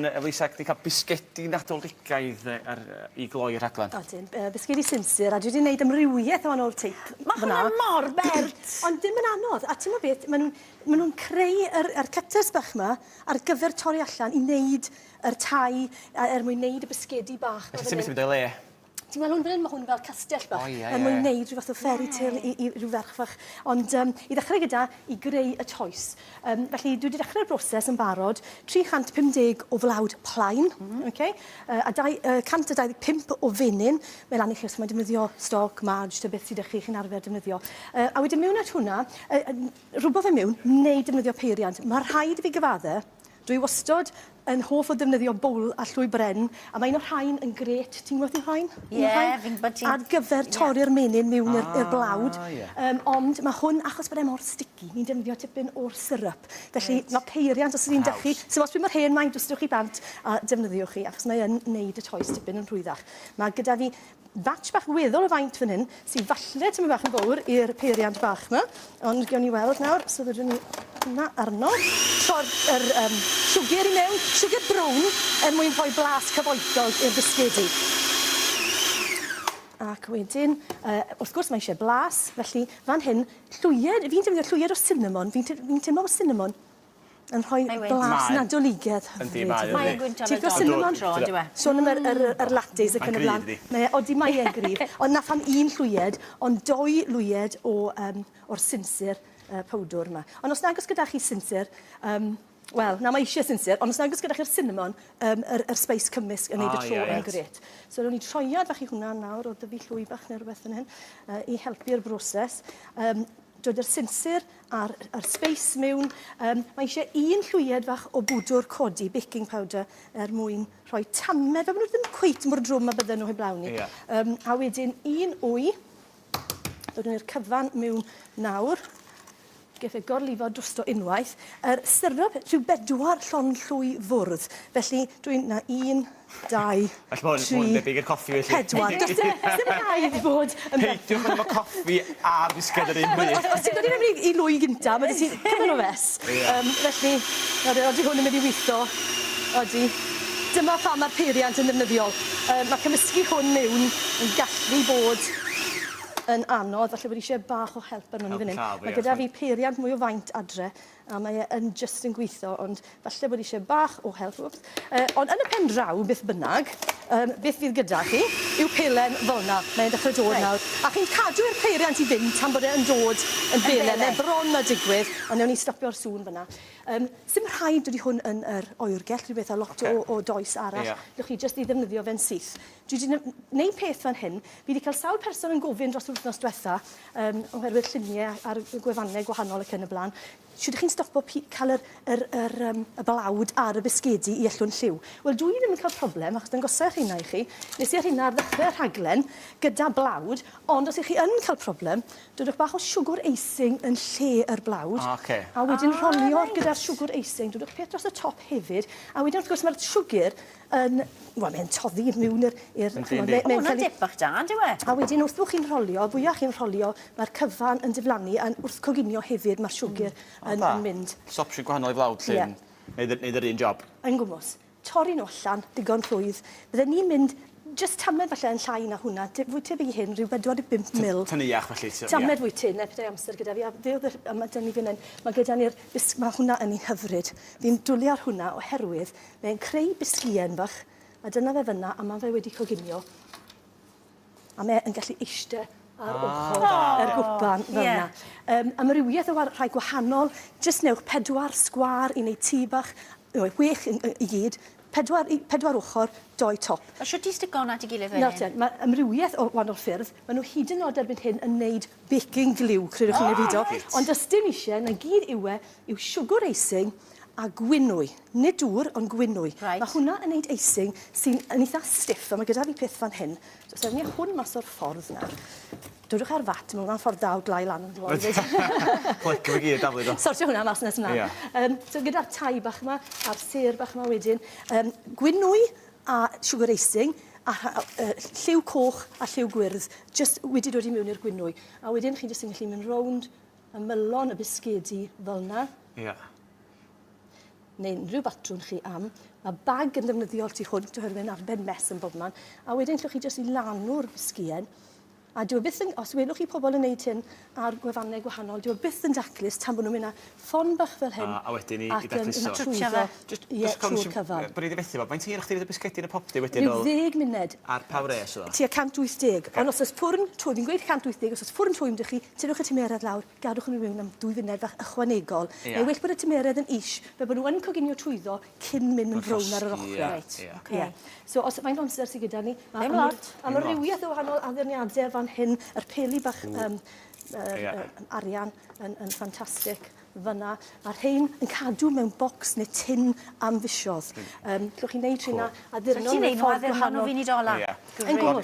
Eloisa, di cael bisgedi Nadoligaidd i gloi rhaglen? O dim, bisgedi sinsir, a dwi di wneud amrywiaeth o wahanol teip. Mae hwnna mor bert! Ond dim yn anodd, a ti'n beth, maen nhw'n maen nhw'n creu yr yr cutters bach ma ar gyfer torri allan i wneud yr tai er mwyn wneud y bisgedi bach. Ti'n methu mynd o'i le. Ti'n gweld hwn fan hyn? Mae hwn fel castell bach. O, ie, ie. Er mwyn neud rhyw fath o fairy tale i, i rhyw ferch fach. Ond um, i ddechrau gyda, i greu y toes. Um, felly, dwi wedi dechrau'r broses yn barod. 350 o flawd plaen, mm -hmm. okay? uh, a dau, uh, 125 o fenyn. Mae'n lan i chi os mae'n defnyddio stoc, marge, ta beth sydd â chi chi'n arfer defnyddio. Uh, a wedyn mewn at hwnna, uh, rhywbeth fe mewn, neu defnyddio peiriant. Mae rhaid i fi gyfadde Dwi wastod yn hoff o ddefnyddio bowl a llwy bren a mae un o rhain yn grêt, ti'n gwybod un o rhain? Ie, fi'n gwybod ti. Ar gyfer torri'r menyn miwn i'r i'r blawd. O ie. Yym ond ma' hwn achos bod e mor sticky ni'n defnyddio tipyn o'r syrup. Felly ma' peiriant os yw un 'da chi. Haws. So os bydd mor hen mae'n dwstio chi bant a defnyddiwch hi achos mae yn neud y toes tipyn yn rhwyddach. Ma' gyda fi Batch bach weddol o faint fan hyn, sy falle tymed bach yn fowr i'r peiriant bach 'ma, ond gewn ni weld nawr, so fedrwn ni hwnna arno, tro'r yr um, siwgr i mewn, siwgr brown, er mwyn rhoi blas cyfoethog i'r bisgedi. Ac wedyn, uh, wrth gwrs mae eisiau blas, felly fan hyn, llwyed, fi'n defnyddio llwyed o cinnamon, fi'n fi teimlo bod cinnamon yn rhoi blas nadoligedd hyfryd. Yndi, mae o, yndi. Ti'n gwybod sut mae'n dro, yn dyw e? Sôn am yr lattes ac yn y blaen. Mae e'n gryf, yndi? Odi, mae e'n gryf. Ond 'na pham un llwyed, ond dou lwyed o'r sinsir powdwr 'ma. Ond os nag oes gyda chi sinsir, wel, na, mae isie sinsir, ond os nag oes gyda chi'r sinamon, yr sbeis cymysg yn neud y tro yn grêt. So, rown i troiad fach i hwnna nawr, o dyfu llwy bach neu rywbeth fan hyn, i helpu'r broses. Dod â'r sinsir a'r a'r space mewn. Yym mae eisiau un llwyed fach o bwdwr codi, baking powder, er mwyn rhoi tame. Fel bod nhw ddim cweit mor drwm a bydden nhw heblaw ni. Ie. Yym a wedyn un wy. Dod nhw i'r cyfan mewn nawr. Geith e gorlifo drosto unwaith. Yr syrup rhyw bedwar llond llwy fwrdd. Felly dwi'n... 'na un, dau, Well ma' hwn, ma' hwn yn debyg i'r coffi felly. pedwar. Does dim, ddim rhaid bod yn Peidiwch â mynd efo coffi a bisged yr un pryd. Os ti'n dod i mewn i lwy gynta, ma' 'da ti cymaint o fess. Yym felly, nawr odi hwn yn mynd i witho. Odi. Dyma pham ma'r peiriant yn ddefnyddiol. Yy ma' cymysgu hwn mewn yn gallu bod yn anodd, falle bod isie bach o help arnon ni fyn 'yn. Ma' gyda fi peiriant mwy o faint adre, a mae e yn jyst yn gweithio, ond falle bod eisiau bach o help. Wps. Uh, ond yn y pen draw, beth bynnag, um, beth fydd gyda chi yw pelen fel yna. Mae'n dechrau dod right. nawr. A chi'n cadw'r peiriant i fynd tan bod e'n dod yn belen, yn bron na digwydd, ond newn ni stopio'r sŵn fyna. Um, Sym rhaid wedi hwn yn yr oergell, rhywbeth a lot okay. o, o does arall. Yeah. Llwch chi jyst i ddefnyddio fe'n syth. Dwi 'di n- neud peth fan hyn. Fi 'di cael sawl person yn gofyn dros yr wythnos dwetha, um, oherwydd llunie a'r gwefannau gwahanol ac yn y blaen, shwt ydych chi'n stopo cael yr, yr, yr, um, y balawd ar y bisgedi i yllwn lliw? Wel, dwi ddim yn cael problem, achos dwi'n gosau rheina i chi. Nes i ar hynna ar ddechrau'r rhaglen, gyda blawd, ond os ych chi yn cael problem, dodwch bach o siwgwr eising yn lle yr blawd. Ah, okay. A wedyn ah, rholio nice. gyda'r siwgwr eising, dodwch peth dros y top hefyd, a wedyn wrth gwrs mae'r siwgr yn... Wel, mae'n toddi i miwn i'r... Yndi, yndi. O, hwnna'n dip bach da, yn dyw e? A wedyn, wrth bo' chi'n rholio, y fwya chi'n rholio, mae'r cyfan yn diflannu, a'n wrth coginio hefyd, ma'r siwgr yn mynd. O da. Jyst opsiwn gwahanol i flawd sy'n neud neud yr un job. Yn gwmws. Torri nhw allan, digon rhwydd. Bydden ni'n mynd jyst tamed falle yn llai na hwnna, te- fwy tebyg i hyn, ryw bedwar deg bump mil. T- tyneuach felly t'o', ie. Tamed fwy tynn, a petai amser gyda fi, a fe o'dd yr... A ma' 'da ni fyn 'yn, ma' gyda ni'r bis- ma' hwnna yn un hyfryd. Fi'n dwli ar hwnna oherwydd Mae'n creu bisgïen fach, a dyna fe fyna, a ma fe wedi coginio. A mae yn gallu eiste ar oh, ochr oh, yr gwpan fel yeah. yna. Um, amrywiaeth o rhai gwahanol, jyst newch pedwar sgwar i wneud tŷ bach, no, wech i, i gyd, pedwar, i, pedwar ochr, doi top. A siwt i stigon at i gilydd fan hyn? Mae amrywiaeth o wahanol ffyrdd. Mae nhw hyd yn oed erbyn hyn yn neud baking glue, credwch oh, neu fido. Right. Ond ysdim eisiau, na gyd yw e, yw siwgr eising a gwynwy. Nid dŵr, ond gwinwy. Reit. Mae hwnna yn neud icing sy'n yn eitha stiff, a mae gyda fi peth fan hyn. So, os ewn ni â hwn mas o'r ffordd nawr. Dwrwch ar fat, mae hwnna'n ffordd dda o glai lan yn gloi 'fyd. Clic efo gear, daflu do. Sortio hwnna mas nes mlan. Ia. Yym, so gyda'r tai bach 'ma, a'r sêr bach 'ma wedyn, yym, gwinwy a siwgr icing, a rha- o- yy ll- lliw coch a lliw gwyrdd, jyst wedi dod i miwn i'r gwinwy. A wedyn chi jyst yn gallu mynd rownd ymylon y bisgedi fel 'na. Ia. neu unrhyw batrwm chi am. Mae bag yn ddefnyddiol tu hwnt oherwydd mae'n arbed mess yn bob man. A wedyn llwch chi jyst i lanw'r sgien. A dwi e byth yn, os welwch chi pobl yn neud hyn ar gwefannau gwahanol, dwi e byth yn daclus tan bod nhw'n mynd â ffon bach fel hyn. A, a wedyn i, i dacluso. Ac yn twtio fe. Just, yeah, just trwy'r cyfan. Bod ni wedi fethu fo. Mae'n tîr chdi fydd y bisgedi yn y popty wedyn o... Rhyw ddeg munud. Ar pa wres o? Tua 180. Okay. Ond os oes pwrn twym, fi'n gweud 180, os oes pwrn twym dych chi, tynnwch y tymeredd lawr, Gadwch nhw mewn am dwy funed fach ychwanegol. Ie. Mae well bod y tymeredd yn is, fel bod nhw yn coginio trwyddo cyn mynd yn frown ar yr ochrau. Yn llosgi, ie. Reit, ocê. Ie. So, os... Faint o amser sy gyda ni? Ddim lot. Ddim lot. Amrywiaeth o wahanol addurniadau fan hyn. Yr peli bach yym yr... Ie. ...yym arian yn yn ffantastig fan 'na. Ma'r rhein yn cadw mewn bocs neu tin am fisoedd. Reit. Yym, 'llwch chi neud rheina... Cŵl. ...addurno mewn ffordd gwahanol. Ti'n gallu neud nhw addurno mewn funud ola'. Ie. Grêt. Yn gwmws.